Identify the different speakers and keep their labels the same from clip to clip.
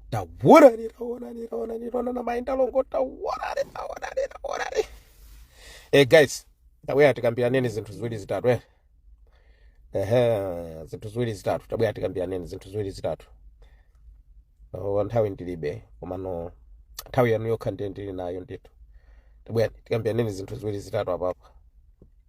Speaker 1: taworani taworani taworani taworani maenda longo taworani taworani taworani eh guys tabwera tikambiraneni zinthu ziwiri zitatu eh ehe zinthu ziwiri zitatu tabwera tikambiraneni zinthu ziwiri zitatu oh, nthawi ndilibe komano nthawi yanu yokha ndiye ndili nayo ndithu tabwera tikambiraneni zinthu ziwiri zitatu apapa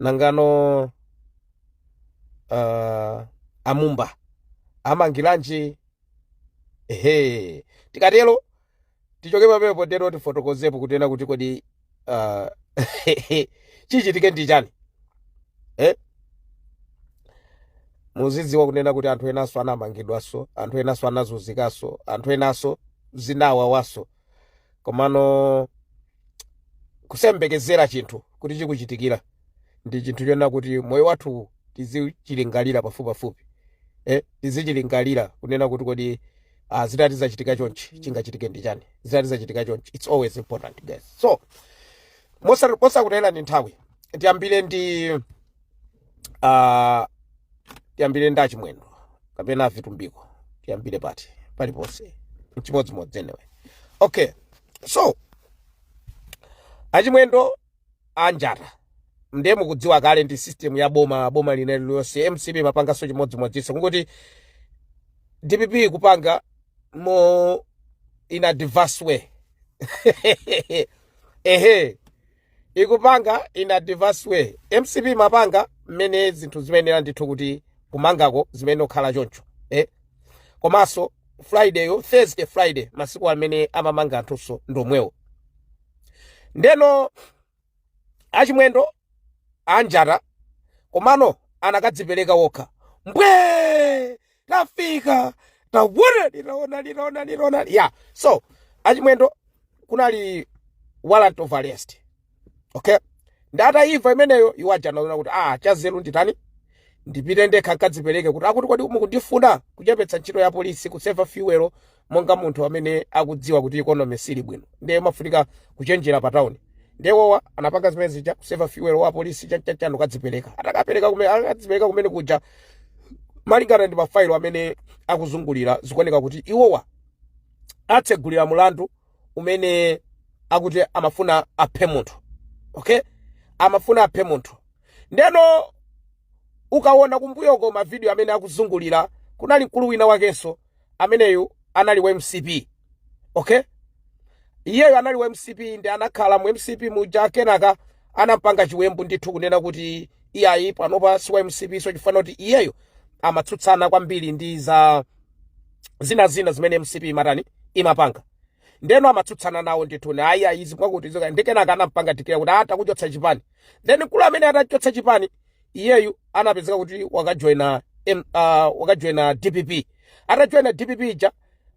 Speaker 1: nangano uh, amumba amangiranji ehe tikatero tichoke pamenepo tero tifotokozepo kunena kuti kodi uh, chichitike ndi chani eh? muzidziwa kunena kuti anthu enanso anamangidwanso anthu enanso anazunzikanso anthu enanso zinawawanso komano kusayembekezera chinthu kuti chikuchitikira ndi chinthu chonena kuti moyo wathu tizichilingalira pafupipafupi eh, tizichilingalira kunena kuti kodi ah, zitati zachitika chonchi chingachitike ndi chani zitati zachitika chonchi it's always important guys so mosa- mosakutayirani nthawi tiyambire ndi uh, tiyambire ndi achimwendo kapena vitumbiko tiyambire pati paliponse chimodzimodzi anyway okay so achimwendo anjata ndiye mukudziwa kale ndi system ya boma boma lina lililonse mcp imapanganso chimodzimodzinso kungoti dpp ikupanga mo in a diverse way ehe ikupanga in a diverse way mcp imapanga mmene zinthu zimayenera ndithu kuti kumangako zimayenera kukhala choncho eh? komanso friday yo thursday friday masiku amene amamanga anthunso ndi omwewo ndeno achimwendo anjata komano anakadzipereka wokha mbwe tafika taonani taonani taonani taonani ya so achimwendo kunali warrant of arrest okay ndiye ataimva imeneyo iwo aja anaona kuti ah chazeru ndi chani ndipite ndekha nkadzipereke kuti akuti kodi mukundifuna kuchepetsa ntchito ya polisi kuseva fuel monga munthu amene akudziwa kuti economy sili bwino ndiye umafunika kuchenjera pa town ndiye iwowa anapanga zimene zija kuseva fuel wa polisi chanichani nkukadzipereka atakapereka kumene atakadzipereka kumene kuja malingana ndi mafailo amene akuzungulira zikuoneka kuti iwowa awatsegulira mulandu umene akuti amafuna aphe munthu okay amafuna aphe munthu ndeno ukaona kumbuyoko mavidiyo amene akuzungulira kunali mkulu wina wakenso ameneyu anali wa mcp okay iyeyo anali wa mcp ndiye anakhala mu mcp muja kenaka anampanga chiwembu ndithu kunena kuti iyayi panopa si wa mcp so chifukwa kuti iyeyo amatsutsana kwambiri ndi za zina zina zimene mcp imatani imapanga ndeno amatsutsana nawo ndithu ni ayi ayi izi zakuti izo ndiye kenaka anampanga tikira kuti takuchotsa chipani then mkulu amene atamuchotsa chipani iyeyu anapezeka kuti wakajoina M- ah, wakajoina dpp atajoina dpp ija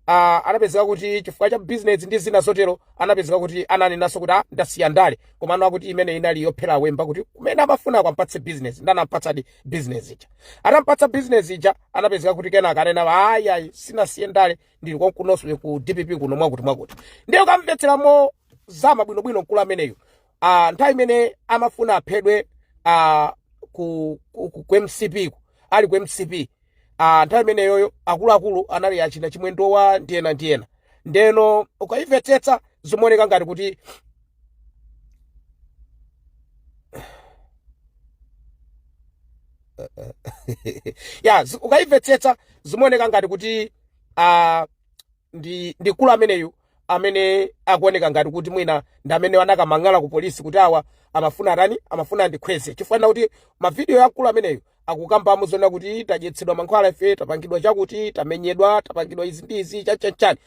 Speaker 1: ah, anapezeka kuti chifukwa cha business ndi zina zotero anapezeka kuti ananenanso kuti ah, ndasiya ndale komano akuti imene inali yophera wemba kuti kumene amafuna akampatse business nde anampatsadi business ija atampatsa business ija anapezeka kuti kenaka ananena ayi ayi sindinasiye ndale ndili konkuno ku dpp kuno mwakuti mwakuti ndiye ukamvetsera mozama bwinobwino mkulu ameneyu uh, nthawi imene amafuna aphedwe uh, ku, ku, ku, ku mcp ku ali ku mcp uh, nthawi imeneyoyo akuluakulu anali achina chimwendowa ndi ena ndi ena ndeno ukayimvetsetsa zimaoneka ngati kuti ya zi- ukayimvetsetsa zimaoneka ngati kuti uh, ndi ndi mkulu ameneyu amene akuoneka ngati kuti mwina ndi amene anakamang'ala ku polisi kuti awa amafuna atani amafuna andikhweze chifukwa nkuti mavidiyo ya mkulu ameneyu akukambamo zona kuti tadyetsedwa mankhwala ife tapangidwa chakuti tamenyedwa tapangidwa izi ndi izi chanchanchani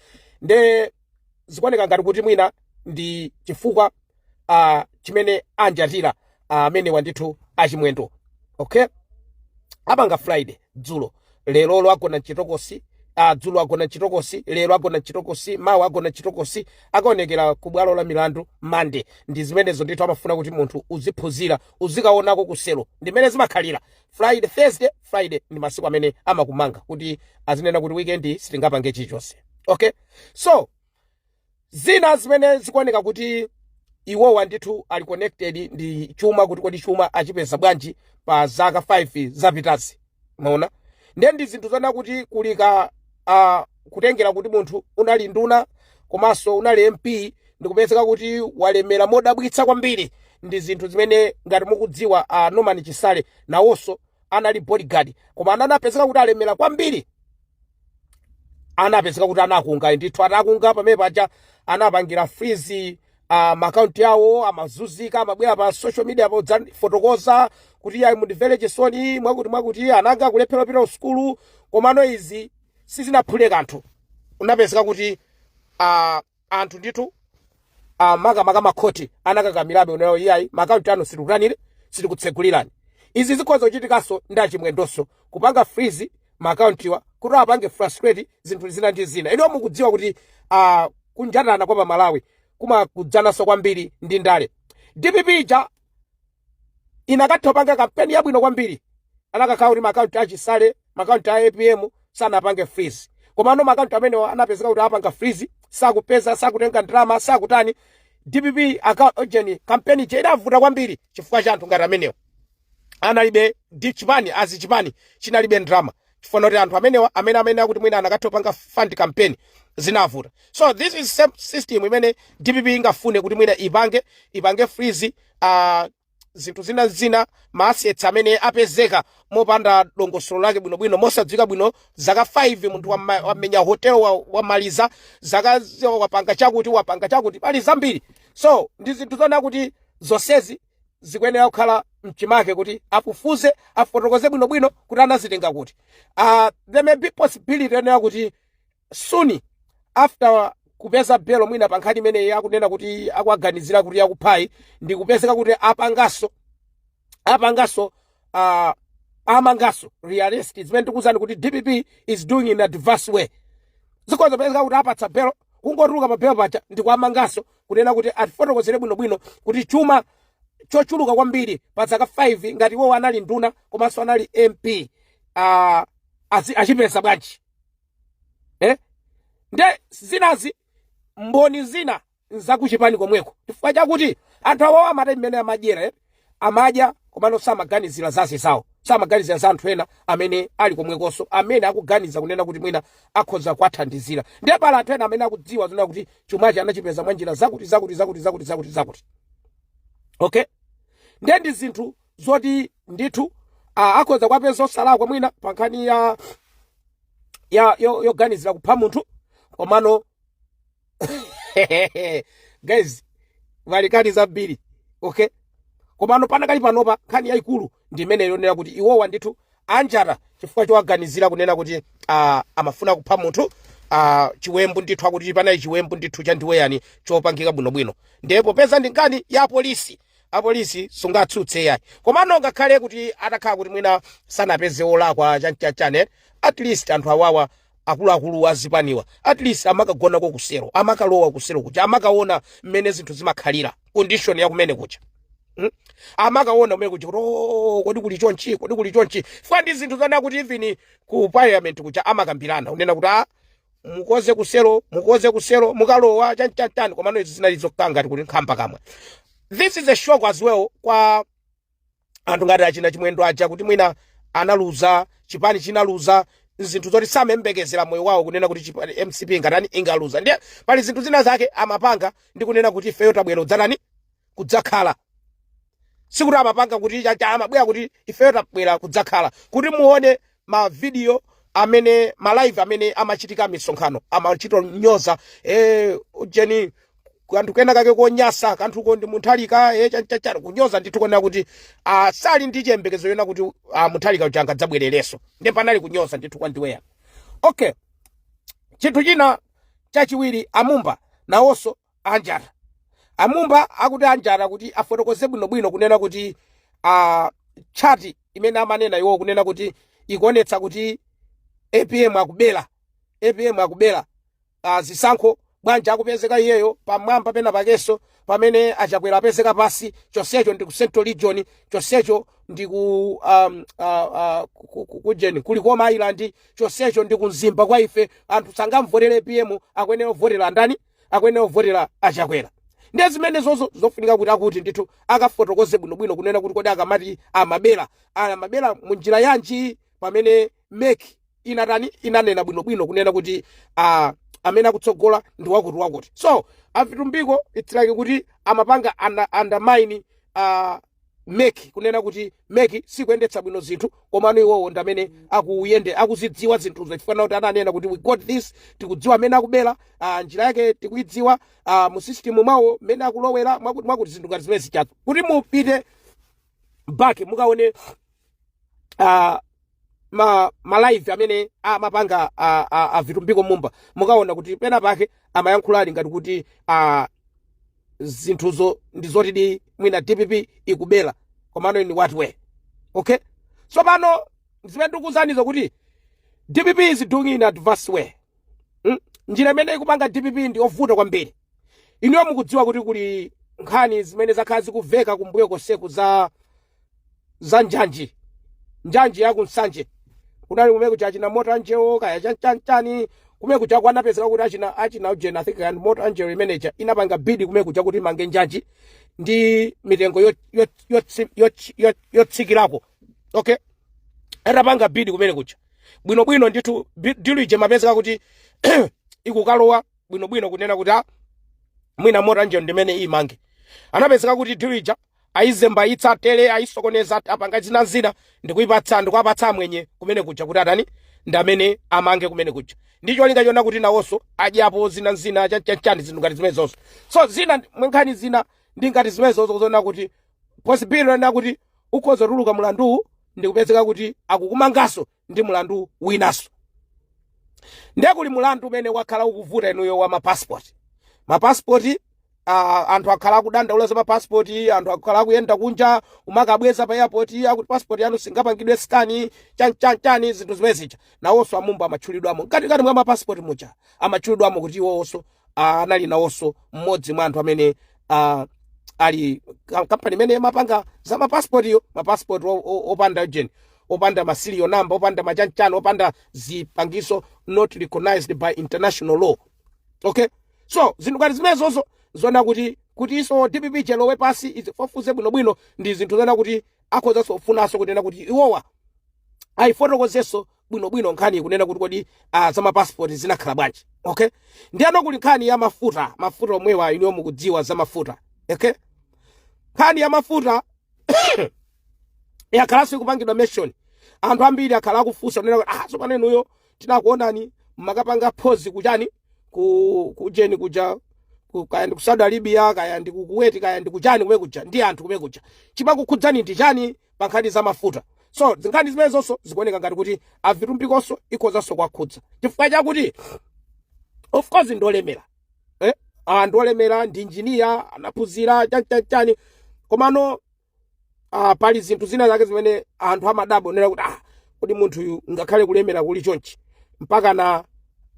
Speaker 1: nde zikuoneka ngati kuti mwina ndi chifukwa uh, chimene anjatira amene uh, awa ndithu achimwendo okay apanga friday dzulo lerolo agona mchitokosi uh, dzulo agona mchitokosi lero agona mchitokosi mawa agona mchitokosi akaonekera ku bwalo la milandu monday ndi zimenezo ndithu amafuna kuti munthu uziphunzira uzikaonako kuselo ndimene zimakhalira friday thursday friday ndi masiku amene amakumanga kuti azinena kuti weekend sitingapange chilichonse okay so zina zimene zikuoneka kuti iwowa ndithu ali connected ndi chuma kuti kodi chuma achipeza bwanji pa zaka 5 zapitazi mwaona ndiye ndi zinthu zona kuti kulika uh, kutengera kuti munthu unali nduna komanso unali mp ndikupezeka kuti walemera modabwitsa kwambiri ndi zinthu zimene ngati mukudziwa uh, norman chisale nawonso anali bodyguard koma anapezeka kuti alemera kwambiri anapezeka kuti anafunga ndithu atafunga pamene paja anapangira freeze uh, makaunti awo amazuzika amabwera pa social media podzafotokoza kuti iyayi mundimvere chisoni mwakuti mwakuti ana anga akulephera kupita kusukulu komano izi sizinaphule kanthu unapezeka kuti uh, anthu ndithu ah, makamaka makhoti anakakamirabe kunena kuti iyayi makaunti anu sitikutanire sitikutsegulirani izi zikhoza kuchitikanso ndi achimwendonso kupanga freeze makauntiwa kuti apange frustrate zinthu zina ndi zina inuyo mukudziwa kuti ah, kunjatana kwa pamalawi kumakudzananso kwambiri ndi ndale dpp ija inakatha kupanga kampeni yabwino kwambiri anakakhala kuti makaunti achisale makaunti a apm sanapange freeze komano makaunti amenewo anapezeka kuti apanga freeze sakupeza sakutenga ndalama sakutani dpp aujeni kampeni ija idavuta kwambiri chifukwa cha anthu ngati amenewo analibe ndi chipani azi chipani chinalibe ndalama chifukwa choti anthu amenewa amene amenewa kuti mwina anakatha kupanga fund kampeni zinavuta so this is same system imene dpp ingafune kuti mwina ipange ipange freeze uh, zinthu zina zina maasets amene apezeka mopanda dongosolo lake bwinobwino mosadziwika bwino zaka 5 munthu wama- wamenya hotel wa- wamaliza zaka zi- wapanga chakuti wapanga chakuti pali zambiri so ndi zinthu zona kuti zonsezi zikuyenera kukhala mchimake kuti afufuze afotokoze bwinobwino kuti anazitenga kuti uh, there may be possibility yonena kuti soon after kupeza belo mwina pa nkhani imeneyi yakunena kuti akuwaganizira kuti yakuphayi ndi kupezeka kuti apangaso apangaso uh, amangaso rearrest zimene tikuwuzani kuti dpp is doing in a diverse way zikhoza kupezeka kuti awapatsa belo kungotuluka pa belo paja ndikuwamanganso kunena kuti atifotokozere bwinobwino kuti chuma chochuluka kwambiri pa zaka 5 ngati iwowo anali nduna komanso anali mp uh, achipeza bwanji eh? nde zinazi mboni zina nzakuchipani komweko chifukwa chakuti anthu awawo amati mmene amadyera eh? Amadya komano samaganizila za azinzawo, samaganizila za anthu ena amene ali komwekonso amene akuganiza kunena kuti mwina akhoza kuwathandizila. Ndiye pali anthu ena amene akudziwa zoona kuti chumachi anachipeza mwa njira zakuti, zakuti, zakuti, zakuti, zakuti, zakuti. Okay? Ndiye ndi zinthu zoti ndithu ah, akhoza kuwapeza osalakwa mwina pa nkhani ya ya yo- yoganizila kupha munthu komano guys kulikali zambiri okay komano panakali panopa nkhani yayikulu ndi imene yonena kuti iwowa ndithu anjata chifukwa chowaganizira kunena kuti uh, amafuna kupha munthu uh, chiwembu ndithu akuti panali chiwembu ndithu chandiweweyani chopangika bwinobwino ndiye popeza ndi nkhani ya apolisi apolisi sungatsutse yayi komano ngakhale kuti atakhala kuti mwina sanapezeke olakwa chanichanichani at least anthu awawa akuluakulu a zipaniwa at least amakagonako kuselo amakalowa kuselo kuja amakaona mmene zinthu zimakhalira condition ya kumene kuja Hmm? amakaona kumene kuja kuti "Oh, kodi kuli chonchi kodi kuli chonchi chifukwa ndi zinthu zoona kuti even ku parliament kuja amakambirana kunena kuti a mukoze kuselo mukoze kuselo mukalowa chanichani komano izi zinali zokanga kuti nkhamba kamwe this is a shock as well kwa anthu ngati achina chimwendo aja kuti mwina analuza chipani chinaluza zinthu zoti samembekezera moyo wawo kunena kuti chipani mcp ingatani ingaluza ndiye pali zinthu zina zake amapanga ndi kunena kuti ifeyo tabwera kudzatani kudzakhala sikuti amapanga kuti chacha amabwera kuti ifeyo tabwera kudzakhala kuti muone mavidiyo amene ma live amene amachitika misonkhano amachito nyoza eh ujeni kanthu kena kake konyasa kanthuko ndi mutharika eh chanchachara kunyoza ndithu kunena kuti ah, sali ndi chiyembekezo chonena kuti ah, mutharika uja angadzabwerereso ndiye panali kunyoza ndithu kwandiweyani okay chinthu china chachiwiri amumba nawonso anjata amumba akuti anjata kuti afotokoze bwinobwino kunena kuti uh, chati imene amanena iwo kunena kuti ikuonetsa kuti apm akubera apm akubera uh, zisankho bwanji akupezeka iyeyo pamwamba pena pakeso pamene achakwera apezeka pasi chonsecho ndi ku central region chonsecho ndi ku um, uh, uh, ku- ku- kujeni ku likoma island chonsecho ndi ku mzimba kwa ife anthu sangamvotere apm akuyenera kuvotera ndani akuyenera kuvotera achakwera ndiye zimenezozo zofunika kuti akuti ndithu akafotokoze bwinobwino kunena kuti kodi akamati amabera amabera mu njira yanji pamene mec inatani inanena bwinobwino kunena kuti ah, amene akutsogola ndi wakuti wakuti so avitumbiko it's like kuti amapanga under, undermine uh, mec kunena kuti mec sikuyendetsa bwino zinthu komano iwowo ndamene akuyende akuzidziwa zinthuzo chifukwa nakuti ananena kuti we got this tikudziwa mmene akubera ah, njira yake tikuidziwa ah, mu system mwawo mmene akulowera mwakuti mwakuti zinthu ngati zimene zijazo kuti mupite back mukaone ah, ma malive amene amapanga a, a, a vitumbiko mumba mukaona kuti pena pake amayankhula ali ngati kuti a, zinthuzo ndi zotidi mwina dpp ikubera komano in what way okay tsopano zimene ndikuuzanizo kuti dpp is doing in adverse way mm? njira imene ikupanga dpp ndi yovuta kwambiri inuyo mukudziwa kuti kuli nkhani zimene zakhala zikuveka kumbuyo konseku za za njanji njanji ya ku nsanje kunali kumene kuja achina mota engil kaya chanichani kumene kuja kunapezeka kuti achina achina ujeni i think ndi mota engil imene ija inapanga bidi kumene kuja kuti imange njanji ndi mitengo yo- yo- yotsi- yotsi- yo- yotsikirako okay atapanga bidi kumene kuja bwinobwino ndithu bi- dilu ija imapezeka kuti ikukalowa bwinobwino kunena kuti ah, mwina mota engil ndi imene imange anapezeka kuti dilu ija aizembaitsa tele aisokoneza apanga zina zina ndikuwapatsa ndikuwapatsa amwenye kumene kuja kuti atani ndi amene amange kumene kuja ndi cholinga chona kuti nawonso adyapo zina zina chanichani zinthu ngati zimenezozo so zina mwa nkhani zina ndi ngati zimenezozo zoona kuti possibility yakuti ukhoza kutuluka mulanduwu ndikupezeka kuti akukumanganso ndi mulandu winaso ndiye kuli mulandu umene wakhala ukuvuta inuyo wa mapasipoti mapasipoti uh, anthu akhala akudandaula za mapasipoti anthu akhala akuyenda kunja umakabweza pa airport akuti pasipoti yanu singapangidwe skani chanichanichani zinthu zimene zija nawonso a Mumba amatchulidwamo mkatikati mwa mapasipoti muja amatchulidwamo kuti iwowonso ah, anali nawonso mmodzi mwa anthu amene ah, ali ka- kampani imene imapanga za mapasipotiyo mapasipoti o- o- opanda ujeni opanda masiriyo namba opanda machanichani opanda zipangiso not recognized by international law okay so zinthu ngati zimenezozo zoona kuti kuti izo dpp ilowe pansi izifufuze bwinobwino ndi zinthu zoona kuti akhozanso kufunanso kunena kuti iwowa ayifotokozenso bwinobwino nkhani yokunena kuti kodi ah, za mapasipoti zinakhala bwanji okay ndiyeno kuli nkhani ya mafuta mafuta omwewa inuyo mukudziwa za mafuta okay nkhani ya mafuta yakhalanso ikupangidwa mention anthu ambiri akhala akufunsa kunena kuti ah tsopano inuyo tinakuonani mumakapanga phozi kuchani ku kujeni kuja ku- kaya ndi ku Saudi Arabia kaya ndi ku Kuwait kaya ndi kuchani kumene kuja ndi anthu kumene kuja chimakukhudzani ndi chani pa nkhani za mafuta so zinkhani zimenezonso zikuoneka ngati kuti a Vitumbikonso ikhozanso kuwakhudza chifukwa chakuti of course ndolemera eh? ah, ndolemera ndi injiniya anaphunzira chanichanichani komano ah, pali zinthu zina zake zimene anthu amadabwa kunena kuti ah, kodi munthuyu ngakhale kulemera kuli chonchi mpakana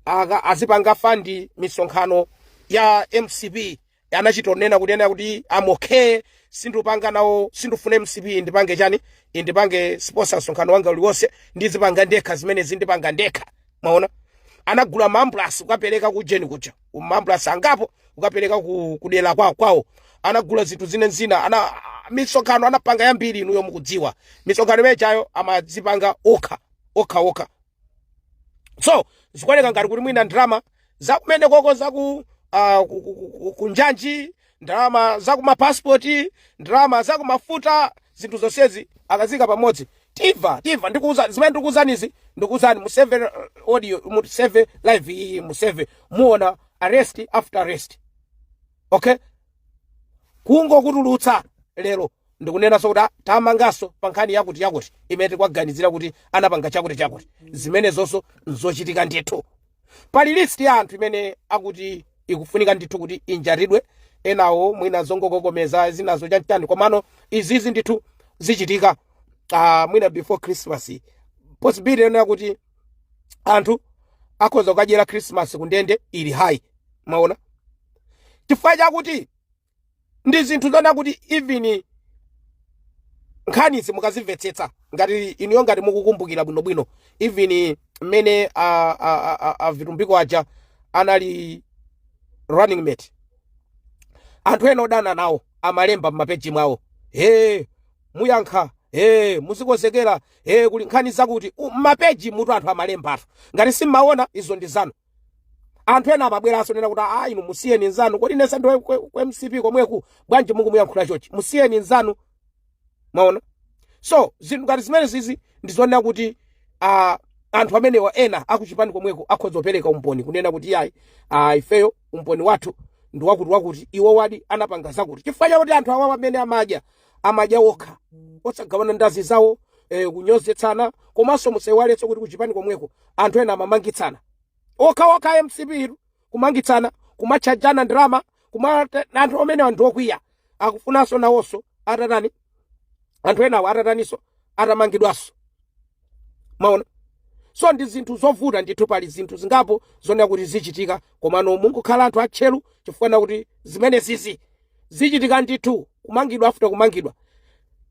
Speaker 1: aka- azipanga fandi misonkhano ya mcp anachitonena kuti kunena kuti I'm okay sindupanga nawo sindufuna mcp ndipange chani indipange sponsor msonkhano wanga uliwonse ndizipanga ndekha zimenezi ndipanga ndekha munaona anagula maambulansi kukapereka kujeni kuja maambulansi angapo kukapereka ku kudera kwa kwawo anagula zinthu zina zina ana misonkhano anapanga yambiri inuyo mukudziwa misonkhano imene ijayo amazipanga okha okha okha so zikuoneka ngati kuti mwina ndalama zakumenekoko zaku uh, ku- ku- ku- ku- kunjanji ndalama zakumapasipoti ndalama zakumafuta zinthu zonsezi akazika pamodzi timva timva ndikuuza zimene ndikuuzanizi ndikuuzani museve eh, audio museve live iyi museve muona arrest after arrest okay kungokutulutsa lero ndikunenanso kuti ah, tamanganso pa nkhani yakuti yakuti imene tikuwaganizira kuti anapanga chakuti chakuti zimenezonso nzochitika ndithu pali list ya anthu imene akuti ikufunika ndithu kuti injatidwe enawo mwina zongokokomeza zinazo chanichani komano izizi ndithu zichitika uh, mwina before christmas possibility yonena kuti anthu akhoza kukadyera christmas kundende ili high mwaona chifukwa chakuti ndi zinthu zonena kuti even nkhanizi mukazimvetsetsa ngati inuyo ngati mukukumbukira bwinobwino even mmene a- a- a- a- a vitumbiko aja anali running mate anthu ena odana nawo amalemba m'mapeji mwawo he muyankha he muzikonzekera he kuli nkhani zakuti U- m'mapeji mutu anthu amalembatu ngati simmaona izo ndi zanu anthu ena amabweranso nena kuti a inu musiyeni nzanu kodi nesa ndiwe kwe- kwe mcp komweku bwanji mukumuyankhula chochi musiyeni nzanu mwaona so zinthu ngati zimene zizi ndizonena kuti uh, anthu amenewa ena akuchipani komweko akhoza kupereka umboni kunena kuti yayi uh, ifeyo umboni wathu ndi wakuti wakuti iwo wadi anapanga zakuti chifukwa chakuti anthu awawa amene amadya amadya okha osagawana ndi anzawo eh, kunyozetsana komanso musaiwaletso kuti kuchipani komweko anthu ena amamangitsana okhaokha mcp iru kumangitsana kumatchajana ndalama kuma anthu amenewa ndi okwiya akufunanso nawonso atatani anthu enawo atataniso atamangidwanso maona so ndi zinthu zovuta ndithu pali zinthu zingapo zonena kuti zichitika komano mungokhala anthu atcheru chifukwa na kuti zimene zizi zichitika ndithu kumangidwa after kumangidwa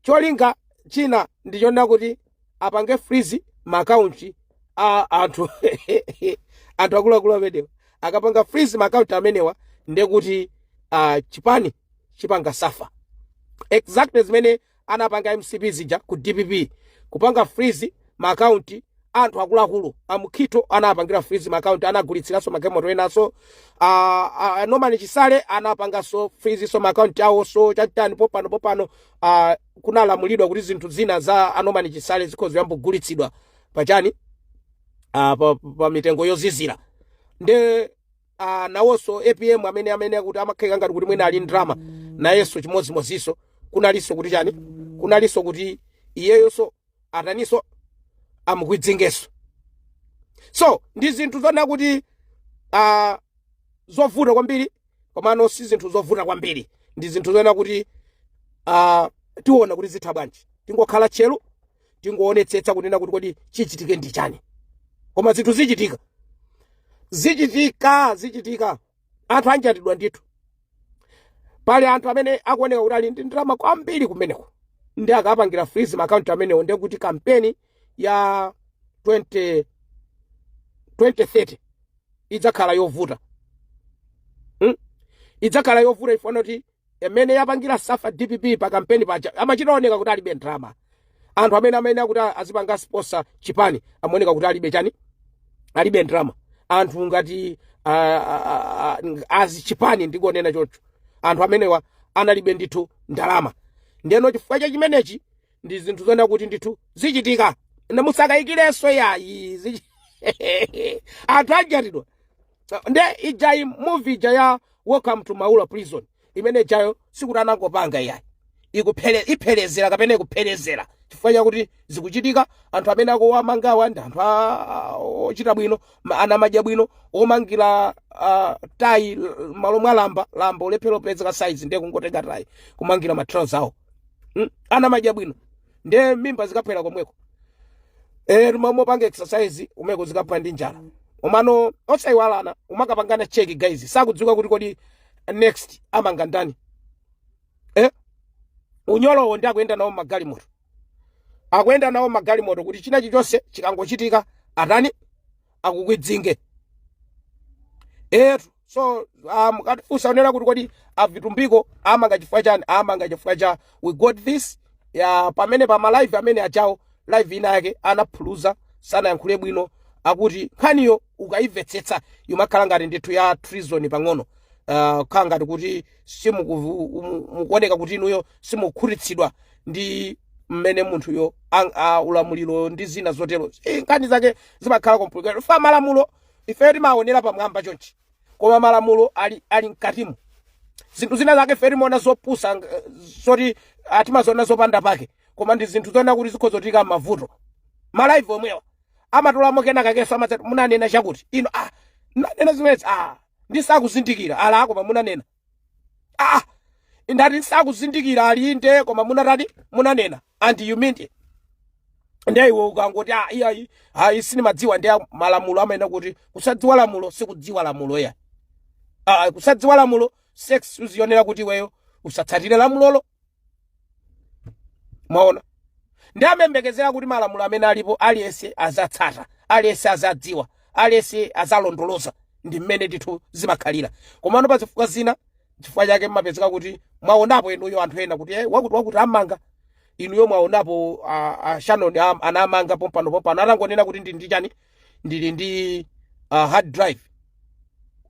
Speaker 1: cholinga china ndichonena kuti apange freeze maakaunti a anthu anthu akuluakulu amenewa akapanga freeze maakaunti amenewa ndekuti uh, chipani chipanga suffer exactly zimene anapanga mcp zija ku dpp kupanga freeze ma account anthu akuluakulu a Mukhito anapangira freeze ma account anagulitsiranso magalimoto enaso ah, ah, norman chisale anapanganso freeze so ma account awo so chachitani popano popano ah, kunalamulidwa kuti zinthu zina za a norman chisale zikhoza kuyamba kugulitsidwa pachani ah, pa, pa mitengo yozizira nde a nawonso apm amene amene akuti amakayika ngati kuti mwina ali ndi ndrama nayenso chimodzimodzinso kunalinso kuti chani kunalinso kuti iyeyonso ataninso amukwidzingenso so ndi zinthu zonena kuti uh, zovuta kwambiri komano si zinthu zovuta kwambiri ndi zinthu zonena kuti uh, tiona kuti zitha bwanji tingokhala tcheru tingoonetsetsa kunena kuti kodi chichitike ndi chani koma zinthu zichitika zichitika zichitika anthu anjatidwa ndithu pali anthu amene akuoneka kuti ali ndi ndalama kwambiri kumeneko nde akapangira freeze maakaunti amenewo ndiye kuti kampeni ya 20 2030 idzakhala yovuta hmm? idzakhala yovuta ifanana kuti mmene yapangira suffer dpp pa kampeni paja amachita oneka kuti alibe ndalama anthu amene amayenera kuti azipanga sponsor chipani amaoneka kuti alibe chani alibe ndalama anthu ngati ah, ah, ah, ah, azi chipani ndikonena chocho anthu amenewa analibe ndithu ndalama ndeno chifukwa cha chimenechi ndi zinthu zoona kuti ndithu zichitika ndiye musakayikirenso yayi zichi- anthu anjatidwa nde ijayi movie ija ya welcome to maula prison imene ijayo sikuti anangopanga iyayi ikuphere ipherezera kapena ikupherezera chifukwa chakuti zikuchitika anthu amene akuwamangawa ndi anthu a- a- ochita bwino ma- ana amadya bwino omangira ah, tayi m'malo mwa lamba lamba kulephera kupezeka saizi ndiye kungotenga tayi kumangira matrauza awo Mm, ana amadya bwino nde mimba zikaphwera komweko eh kumakapanga exercise kumeneko zikaphwera ndi njala komano osayiwalana kumakapangana check guys sizikudziwika kuti kodi next amanga ndani eh unyolowo nde akuyenda nawo m'magalimoto akuyenda nawo m'magalimoto kuti china chilichonse chikangochitika atani akukwidzinge etu so uh, mukatifunsa kunena kuti kodi a Vitumbiko awamanga chifukwa chani awamanga chifukwa cha we got this ya pomwe pa malive amene achitawo live ina yake anaphuluza sanayankhule bwino akuti nkhaniyo ukayimvetsetsa imakhala ngati ndithu ya treason pang'ono uh, ukhala ngati kuti simukuoneka kuti inuyo simukhutitsidwa ndi mmene munthuyo ang- a- ulamuliro ndi zina zotero Eh, nkhani zake zimakhala complicated fa malamulo ifeyo timaonera pamwamba chonchi koma malamulo ali, ali mkatimo zinthu zina zake fe timaona zopusa ng- zoti ah, timaziona zopanda pake koma ndi zinthu zoona kuti zikhoza kutiika m'mavuto malaivi omwewa amatolamo kena kakenso amadzati munanena chakuti ine ah, nanena zimenezi ah, ndisakuzindikira ali ah koma munanena ah ndati ndisakuzindikira ali inde koma munatani munanena and you mean it ndiye iwe ukangoti ah iyayi ayi sindimadziwa ndiye malamulo amanena kuti kusadziwa lamulo sikudziwa lamulo ya ah kusadziwa lamulo si excuse yonena kuti iweyo usatsatire lamulolo mwaona nde amayembekezera kuti malamulo amene alipo aliyense azatsata aliyense azadziwa aliyense azalondoloza ndi mmene ndithu zimakhalira komano pa zifukwa zina chifukwa chake mmapezeka kuti mwaonapo inuyo anthu ena kuti eh, wakuti wakuti amanga inuyo mwaonapo ah, ah, shanoni anamanga pompano pompano atangonena kuti ndi ndi chani ndili ndi uh, hard drive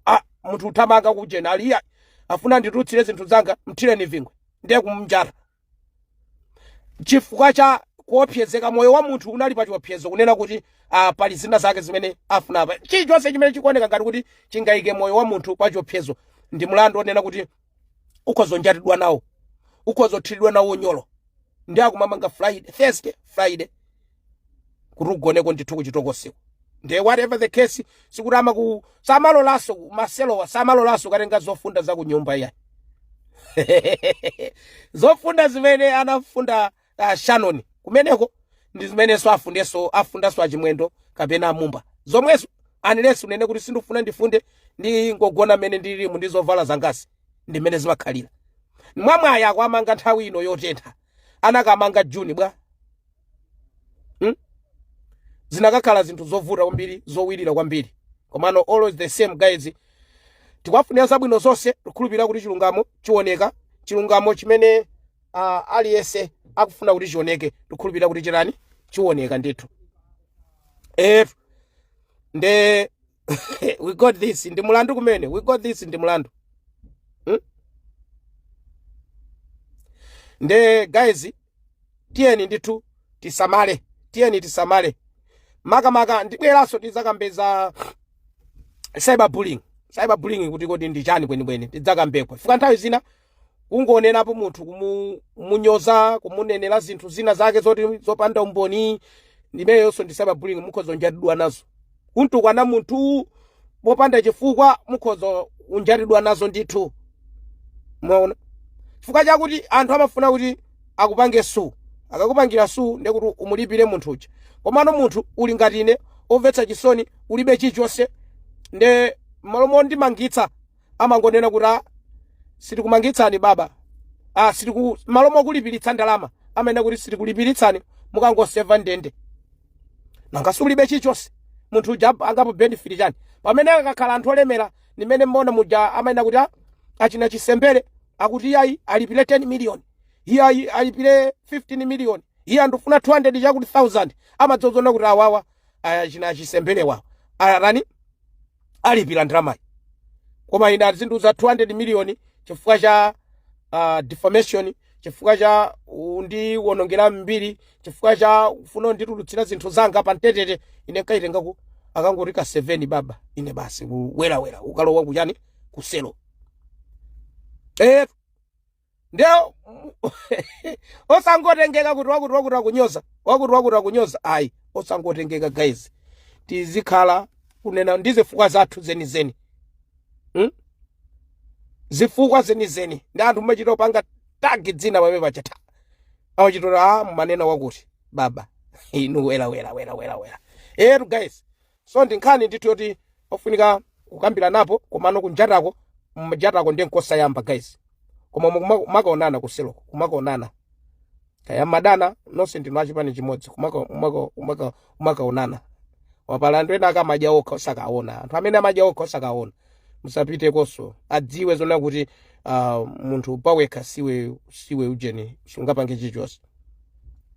Speaker 1: ah, munthu uthamanga kujena ali iyayi afuna anditulutsire zinthu zanga mthireni zingwe ndiye kumnjata chifukwa cha kuopsezeka moyo wa munthu unali pa chiopsezo kunena kuti ah, pali zina zake zimene afuna apa chilichonse chimene chikuoneka ngati kuti chingayike moyo wa munthu pa chiopsezo ndi mlandu onena kuti ukhoza kunjatidwa nawo ukhoza kuthiridwa nawo unyolo nde akumamanga friday thursday friday kuti ugoneko ndithu kuchitokosiku nde whatever the case sikuti amaku samalolanso maselomo samalolanso kukatenga zofunda za kunyumba iyayi zofunda zimene anafunda uh, shannon kumeneko ndi zimenenso afundenso afundanso achimwendo kapena amumba zomwezo unless unene kuti sindifuna ndifunde ndingogona mmene ndilimu ndi zovala zangazi ndi mmene zimakhalira mwamwayi akuwamanga nthawi ino yotentha anakamanga juni bwa hmm? zinakakhala zinthu zovuta kwambiri zowirira kwambiri komano all the same guys tikuwafunira zabwino zonse tikhulupirira kuti chilungamo chioneka chilungamo chimene uh, aliyense akufuna kuti chioneke tikhulupirira kuti chirani chioneka ndithu if nde we got this ndi mulandu kumene we got this ndi mulandu hmm? nde guys tiyeni ndithu tisamale tiyeni tisamale makamaka ndibweranso tidzakambe za cyberbullying cyberbullying kuti kodi ndi chani kwenikweni tidzakambeko fika nthawi zina kungonenapo munthu kumunyoza kumunenera zinthu zina zake zoti zopanda umboni imeneyonso ndi cyber bullying mukhoza kunjatidwa nazo kumtukwana munthu popanda chifukwa mukhoza kunjatidwa nazo ndithu mwaona chifukwa chakuti anthu amafuna kuti akupange sue akakupangira sue ndekuti umulipire munthu uja komano munthu uli ngati ine omvetsa chisoni ulibe chilichonse nde mmalo mondimangitsa amangonena kuti a sitikumangitsani baba a sitiku malo mokulipiritsa ndalama amanena kuti sitikulipiritsani mukangoseva ndende nanga sulibe chilichonse munthu uja angapobenefita chani pamene akakhala anthu olemera ndi mmene mumaona muja amanena kuti a achina chisembere akuti iyayi alipire 10 million iyayi alipire 15 million iye ndikufuna 200 chakuti 1000 amadziona kuti awawa achina chisembere wawo arani alipira ndalamayi koma ina azindiuza 200 miliyoni chifukwa cha uh, defamation chifukwa cha kundiwonongera mbiri chifukwa cha kufuna kunditulutsira zinthu zanga pa mbetete ine nkaitenga ku akangoti ka 7 baba ine basi kuwelawela ukalowa kuchani kuselo eh ndiye osangotengeka kuti wakuti wakuti akunyoza wakuti wakuti akunyoza ayi osangotengeka guys tizikhala kunena ndi zifukwa zathu zenizeni hmm? zifukwa zenizeni ndi anthu mumachita kupanga tagi dzina pamene pachata awachitota a mumanena wakuti baba inu wela wela wela wela wela etu guys so ndi nkhani ndithu yoti ofunika kukambiranapo komano kunjatako kunjatako ndi nkosayamba guys koma mukuma- kumakaonana kuseloko kumakaonana kaya madana nonse ndinu achipani chimodzi kumaka- kumaka- kumaka- kumakaonana wapalanthu ena akamadya okha osakaona anthu amene amadya okha osakaona musapitekonso adziwe zona kuti uh, munthu pawekha siwe siwe ujeni sungapange chilichonse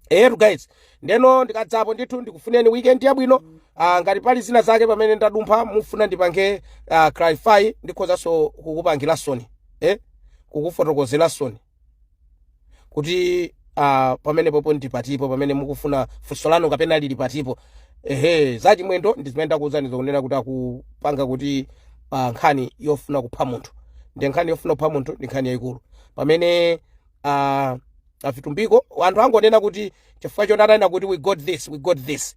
Speaker 1: eyetu guys ndeno ndikadzapo ndithu ndikufunireni weekend yabwino uh, ngati pali zina zake pamene ndadumpha mufuna ndipange uh, clarify ndikhozanso kukupangilansoni eh? kukufotokozelansoni kuti uh, pamene popo ndi patipo pamene mukufuna funso lanu kapena lili patipo ehe za chimwendo ndi zimene ndakuwuzani zokunena kuti akupanga kuti uh, nkhani yofuna kupha munthu ndi nkhani yofuna kupha munthu ndi nkhani yayikulu pamene uh, avitumbiko anthu angonena kuti chifukwa choti ananena kuti we got this we got this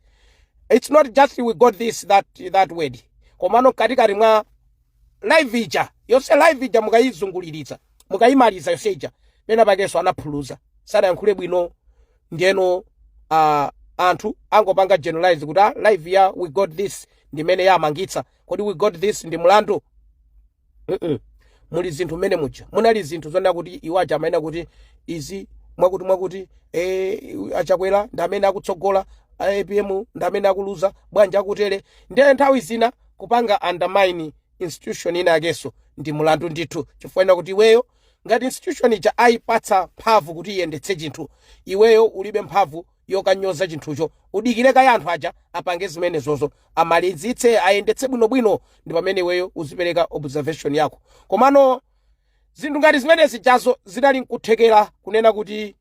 Speaker 1: it's not just we got this that, that word komano katikati mwa live ija yonse live ija mukayizunguliritsa mukayimaliza yonse ija pena pakenso anaphuluza sanayankhule bwino ndiyeno uh, anthu angopanga generalize kuti ah, live ya we got this ndimene yamangitsa kodi we got this ndi mlandu mm -mm. muli zinthu mmene muja munali zinthu zonena kuti iwo aja amanena kuti izi mwakuti mwakuti eh, achakwera ndi amene akutsogola apm ndi amene akuluza bwanji akutere ndiye nthawi zina kupanga undermine institution ina yakenso ndi mulandu ndithu chifukwa nena kuti iweyo ngati institution ija ayipatsa mphamvu kuti iyendetse chinthu iweyo ulibe mphamvu yokanyoza chinthucho udikire kaya anthu aja apange zimenezozo amalizitse ayendetse bwinobwino ndi pamene iweyo uzipereka observation yako komano zinthu ngati zimenezi jazo zidali nkuthekera kunena kuti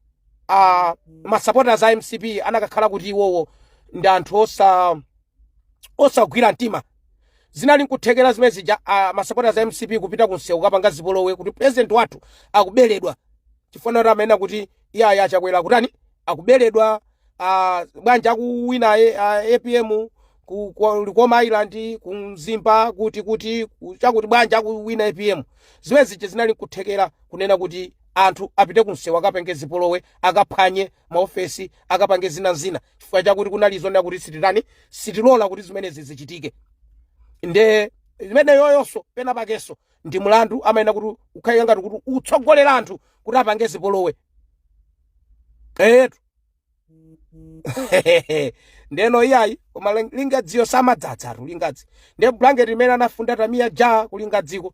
Speaker 1: uh, masupporters a mcp anakakhala kuti iwowo ndi anthu osa osagwira mtima zinali nkuthekera zimene zija ah, masapota za mcp kupita kunsewu kapanga zipolowe kuti president wathu akuberedwa chifukwa naye amanena kuti iyayi achakwera kutani akuberedwa ah, bwanja akuwina ye- ah, apm ku- ku- likoma island ku mzimba kuti kuti ku- chakuti bwanja akuwina apm zimene zija zinali nkuthekera kunena kuti anthu apite kunsewu akapange zipolowe akaphwanye maofesi akapange zina zina chifukwa chakuti kunali zonena kuti sititani sitilola kuti zimenezi zichitike nde imeneyoyonso pena pakenso ndi mlandu amayenera kuti ukhale ngati kuti ukutsogolera anthu kuti apange zipolowe eyetu ndeno iyayi koma ling- lingadziyo simadzadzatu lingadzi nde blanket imene anafunda tamiya ja kulingadziko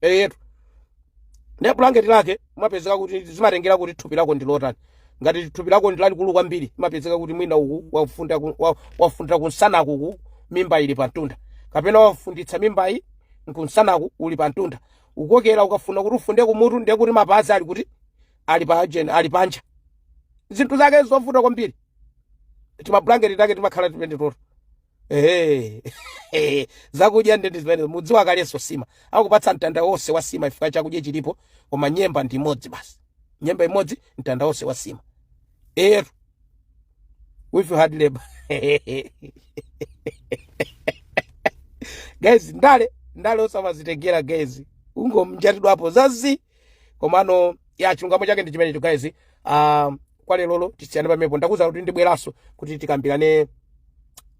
Speaker 1: eyetu nde bulangeti lake umapezeka kuti zimatengera kuti thupi lako ndi lotani ngati thupi lako ndi lalikulu kwambiri imapezeka kuti mwina uku wafunda ku- wa- wafundira kunsanaku uku mimba ili pamtunda kapena wafunditsa mimbayi nkunsanaku uli pamtunda ukokera ukafuna kuti ufunde kumutu ndiye kuti mapazi ali kuti ali pa ajeni ali panja zinthu zake zovuta kwambiri timabulangeti take timakhala tipendetota Hey, hey, zakudya nde ndi zimene mudziwa kalenso sima akupatsa mtanda wonse wa sima ifika chakudya chilipo koma nyemba ndi imodzi basi nyemba imodzi mtanda wonse wa sima eetu with hard labor guys ndale ndale osamazitengera guys ungomjatidwapo zazi komano a chilungamo chake ndi chimenecho guys uh, kwa lerolo tisiyane pamepo ndakuuzani kuti ndibweranso kuti tikambirane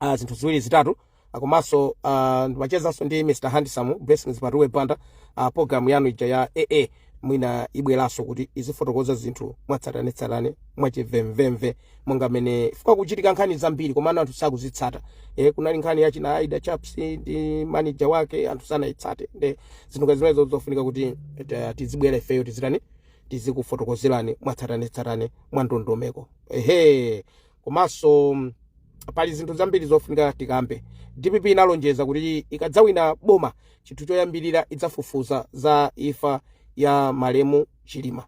Speaker 1: uh, zinthu ziwiri zitatu Ah, komanso uh, ndimachezanso ndi mr handsome blessings patuwe banda uh, program yanu ija ya aa mwina ibweranso kuti izifotokoza zinthu mwatsatanetsatane mwachimvemvemve monga mmene zikuchitika nkhani zambiri komano anthu sakuzitsata e, kunali nkhani ya achina aida chaps ndi manager wake anthu sanayitsate nde zinthu ngati zimenezo zofunika kuti eh, tizibwera ifeyo tizitani tizikufotokozerani mwatsatanetsatane mwa ndondomeko ehe komanso mm, pali zinthu zambiri zofunika tikambe dpp inalonjeza kuti ikadzawina boma chinthu choyambirira idzafufuza za imfa ya malemu chilima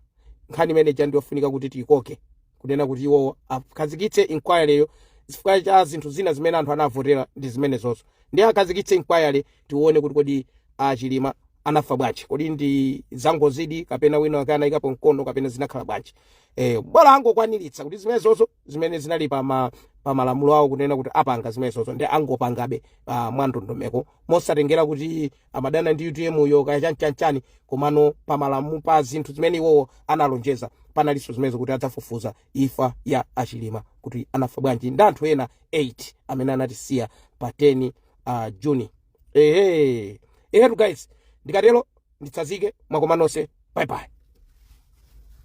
Speaker 1: nkhani imene ija ndiyofunika kuti tiyikoke kunena kuti iwowo akhazikitse inquiry yo chifukwa chakuti zinthu zina zimene anthu anavotera ndi zimenezozo ndiye akhazikitse inquiry tione kuti kodi a chilima anafa bwanji kodi ndi zangozidi kapena wina wake anayikapo mkono kapena zinakhala bwanji eh bola angokwaniritsa kuti zimenezozo zimene zinali pa ma pa malamulo awo kunena kuti apanga zimenezozo ndi angopangabe uh, mwandondomeko mosatengera kuti amadana ndi UTM yo kaya chanchanchani komano pa malamulo pa zinthu zimene iwowo analonjeza panalinso zimenezo kuti adzafufuza imfa ya a Chilima kuti anafa bwanji ndi anthu ena 8 amene anatisiya pa 10 uh, juni ehe ehetu guys ndikatero nditsazike mwakoma nonse bye bye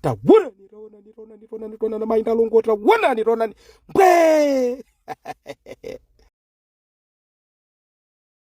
Speaker 1: tawona nitawona nitawona nitawona nitawona na mainda longo tawona nitawona mbwe